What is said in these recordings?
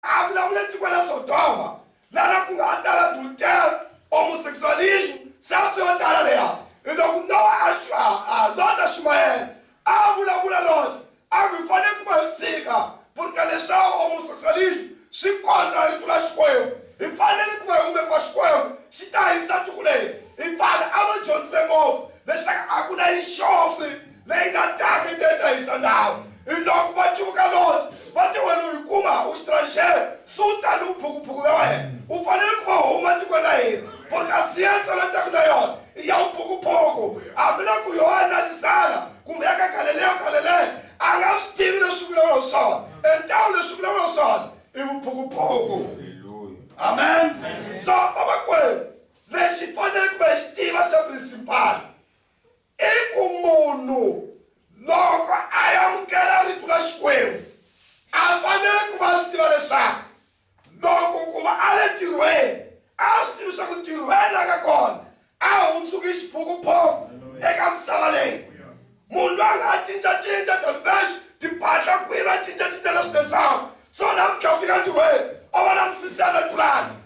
A vulavule tiko la Sodoma, la ra ku nga ha tala adultery, homosexualism, self yo tala leya. I loku Nowa a xi a a lota Xumayela, a a vulavula Lota, a ku, Hi fanele ku va hi tshika purka leswa homosexualism, swi kontra rito ra Xikwembu. Hi fanele ku va hi hume ku va Xikwembu xi ta hisa tiko leri. I vanhu a va dyondzile ngopfu leswaku a ku na yixofi Leyi nga taka yi te ta hisa ndhawu. Hiloko va cuvuka Loti, va te, Wena u hi kuma, u xitranxere, se u ta ni vuphukuphuku bya wena. U fanele ku va huma etikweni ra hina. Bokasi ya nsele a taka na yona i ya vuphukuphuku. Hambiloko Yohane a ri zala kumbe ya ka Galeleya or Galeleya, a nga swi tivi leswi swi vulavulaka hi swona. E ntawu leswi swi vulavulaka hi swona i vuphukuphuku. Amen. So, vamakwenu, lexi hi faneleke ku va hi xi tiva xa prinsipali I ku munhu loko a amukela Rito ra Xikwembu, a fanele ku va a swi tiva leswaku loko ku va a le ntirhweni, a swi tivi leswaku ntirhweni la nga kona a hundzuki xiphukuphuku eka misava leyi. Munhu loyi a nga ha cinca-cinca thelevhexi, timpahla, kwini a cinca-cinca na switirhisano, so namuntlha a fika ntirhweni o va na misisi ya natural,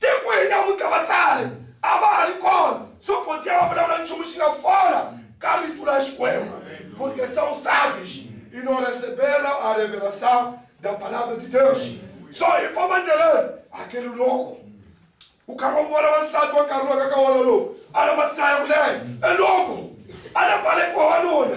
Tiko hi namuntlha vatsari a va ha ri kona, so Potiya va vulavula nchumu xi nga fola ka rito ra Xikwembu, Porque são sábios e não receberam a revelação da palavra de Deus. So i famba ndleleni, hakeli loko u karhi u vona wansati wa nkarhi lowu ka ka wona lowu a na masaya kunene, e loko a na balekiwa wanuna.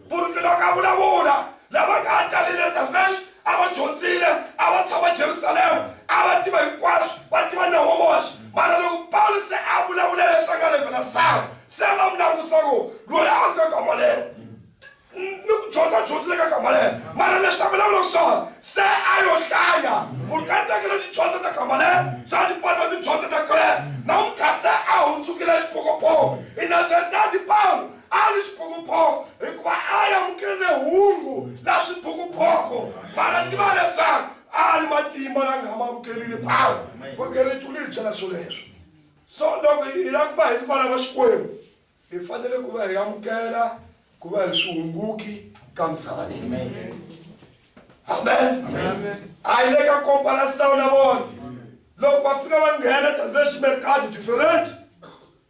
Ku ri nilo ka vulavula, lava nga ha ta le Netherlands a va dyondzile, a va tshama Jerusalema, a va tiva hinkwaswo, va tiva Nawu wa Moxe. Mara loko Pawulo se a vulavula leswi a nga rhevela Sara, se va n'wi langusa ku, Loyi a ri ka Gamalela, ni ku dyondza a dyondzile ka Gamalela. Mara leswi a vulavulaka swona, se a yo hlaya ku ri ka tekela tidyondzo ta Gamalela, se a ti pasa tidyondzo ta Kreste. Namuntlha se a hundzukile xiphokopoko. Hi Netherlands, Pawulo A ni xiphukuphuku hikuva a yi amukerile hungu la swiphukuphuku, mana tiva leswaku a ni matimba la nga ma amukerile Pawulo. Vukhongeri lethu li hi byela swoleswo. So loko hi hi la ku va hi ri vana va Xikwembu, hi fanele ku va hi amukela ku va hi ri swihunguki ka misava leyi. Amen. A yi le ka komparasitawu na vona. Loko va fika va nghena tanihileswi mercado different,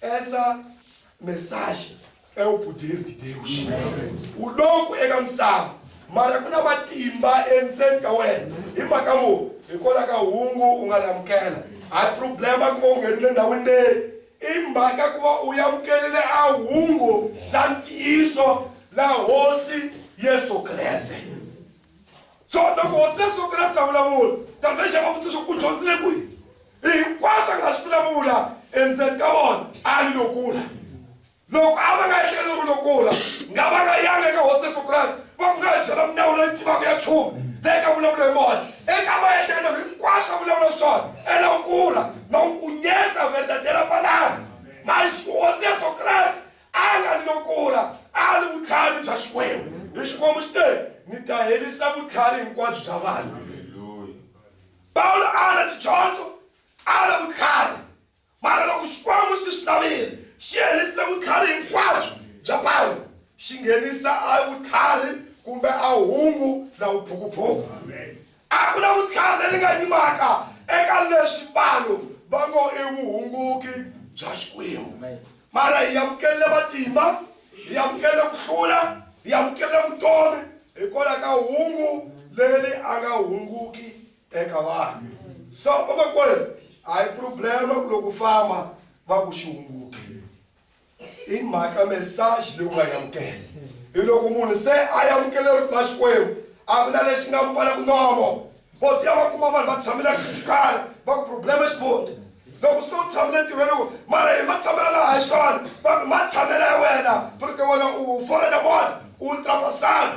Essa mensagem é o poder de Deus. O louco é cansado, mas kuna matimba endzeni ka wena hi mhaka mu hikwalaho ka hungu u nga ri amukela a hi problema ku va u nghenile ndhawini leyi i mhaka ku va u yamukelele a hungu la ntiyiso la hosi yesu kreste so loko hosi ya soko ra savulavula tamexa va vutisa swaku u dyondzile kwihi hinkwaswo a nga swi vulavula endzeni ka vona a ni lokula loko a va nga ehleketa ku lokula nga va nga yanga eka hosi ya sokrasi va ku nga ha byela milawu leyi tivaka ya chumu leyi nga vulavula hi moxe eka va ehleketa hinkwaswo a vulavula swona elokula na n'wi kunyesa u nga tatela palani mali hosi ya sokrasi a nga ri no kula a ri vutlhari bya xikwembu hi xikwembu xi te ni ta herisa vutlhari hinkwabyo bya vanhu pawulo a ri tidyondzo a ri vutlhari mara loko xikwembu xi swi lavile xi herise vutlhari hinkwabyo bya pawulo xi nghenisa a vutlhari kumbe a hungu na vuphukuphuku A ku na vutlhari lebyi nga yimaka eka leswi vanhu va ngo i vuhunguki bya Xikwembu. Mara hi amukerile matimba, hi amukerile ku hlula, hi amukerile vutomi hikwalaho ka hungu leri a nga hunguki eka vanhu. So vamakwerhu, a hi prublema ku loko u famba va ku xi hunguke. i mhaka message leyi u nga yi amukela hi loko munhu se a yi amukele ri na xikwembu a ku na lexi nga pfalaku nomo vo tiya va kuma vanhu va tshamela kala va ku problema xibondi loko se u tshamele ntirhweni ku mara hi ma tshamela laha hi xona va ku ma tshamela hi wena furite wena u forena mona u ultrapasana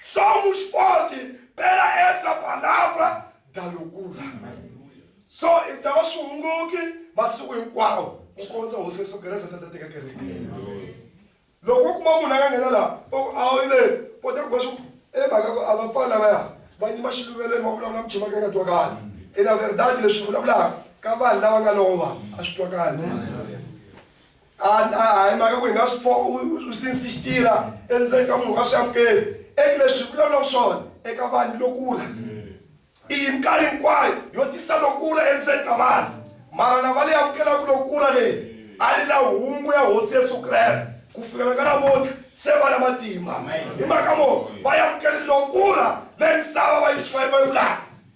Somos forte pela essa palavra da loucura. So i ta va swihunguki masiku hinkwawo ku kondza hosi yesu kerese ta ta teka kereke loko u kuma munhu a nga nghena laha va ku a wu le kota ku va swi emhaka ku a va pfali lavaya va nyima xiluvelweni va vulavula muchima ka nga twakali i na verdade leswi vulavulaka ka vanhu lava nga lova a swi twakali A a a hi mhaka ku hi nga swi fo u since xi tirha endzeni ka munhu wa swi amukeli eku leswi hi vulavulaka swona eka vanhu lo kula i yi minkarhi hinkwayo yo tisa lo kula endzeni ka vanhu mara lava leyi amukelaka lo kula leyi a ri na hungu ya hosi yesu kreste ku fikela ka namuntlha se va na matimba hi mhaka mo va yi amukeli lo kula leyi misava va yi va yi va yi vulaka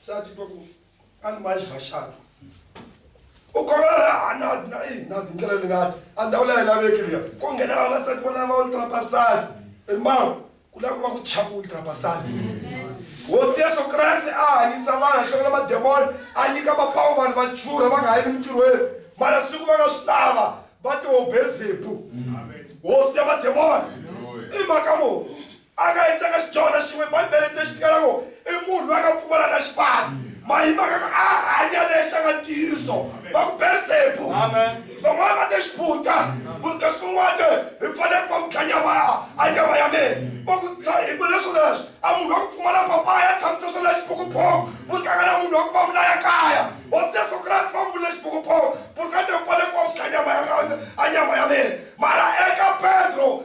se a titwa ku a ni manji maxato u khomela la hanadi na i nadi ndlela leyi ngati a ndhawu leyi laveki liya ko nghena vavasati va lava ultrapasadi ri mama ku lava ku va ku chaka ultrapasadi hosi yesu kreste a hanyisa vanhu a hlomela mademoni a nyika mapawu vanhu va churha va nga ha yi emintirhweni mara siku va nga swi lava va tihobezebu hosi ya mademoni i mhaka munhu A nga encanga xidyohana xin'we. Bibele yi te xi tikela ku i munhu loyi a nga pfumala na xivati. Ma hi mhaka ku a hanya lexi a nga ntiyiso. Va ku Belzebu. Van'wana va te xiputa. Munhu kasi un'wana te hi pfale ku va ku dla nyama ya a nyama ya mina. Va ku dza hi ku leswi leswi a munhu wa ku pfumala papaya ya tshamisa swona xiphukuphuku. Vu tlanga na munhu wa ku va mu laya kaya. Hosi Yesu Kreste va mu vule xiphukuphuku, Purukate u pfale ku va ku dla nyama ya a nyama ya mina. Mara eka Pedro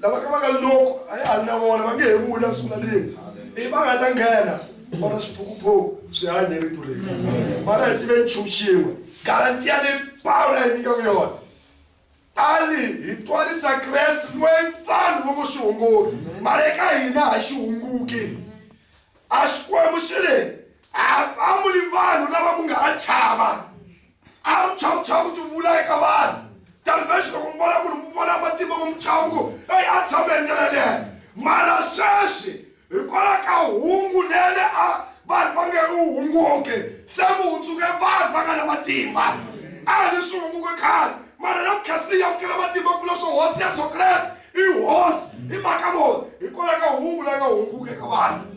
lava ka va nga loko a ya hali na vona va nge he vuli a sungula leni i va nga ta nghena vona swiphukuphuku swi hanye rito leri mara hi tive nchumu xin'we garantiya leyi pawula yi nyikaku yona a ni hi twarisa kreste loyi vanhu vo ngo xi hunguri mara eka hina ha xi hunguki a xikwembu xi le a va muli vanhu lava mu nga ha chava a wu chawu chawu ti vula eka vanhu tanihileswi loko mi vona munhu mi vona matimba mu muchawu ngo eyi a tshame hi ndlela leyo mara sweswi hikwalaho ka hungu lele a vanhu va nge u hunguke se mu hundzuke vanhu va nga na matimba a hi ni swi hunguke khale mara na vukhasi ya vukela matimba ku vula swo hosi ya so kreste i hosi hi mhaka mona hikwalaho ka hungu la nga hunguke ka vanhu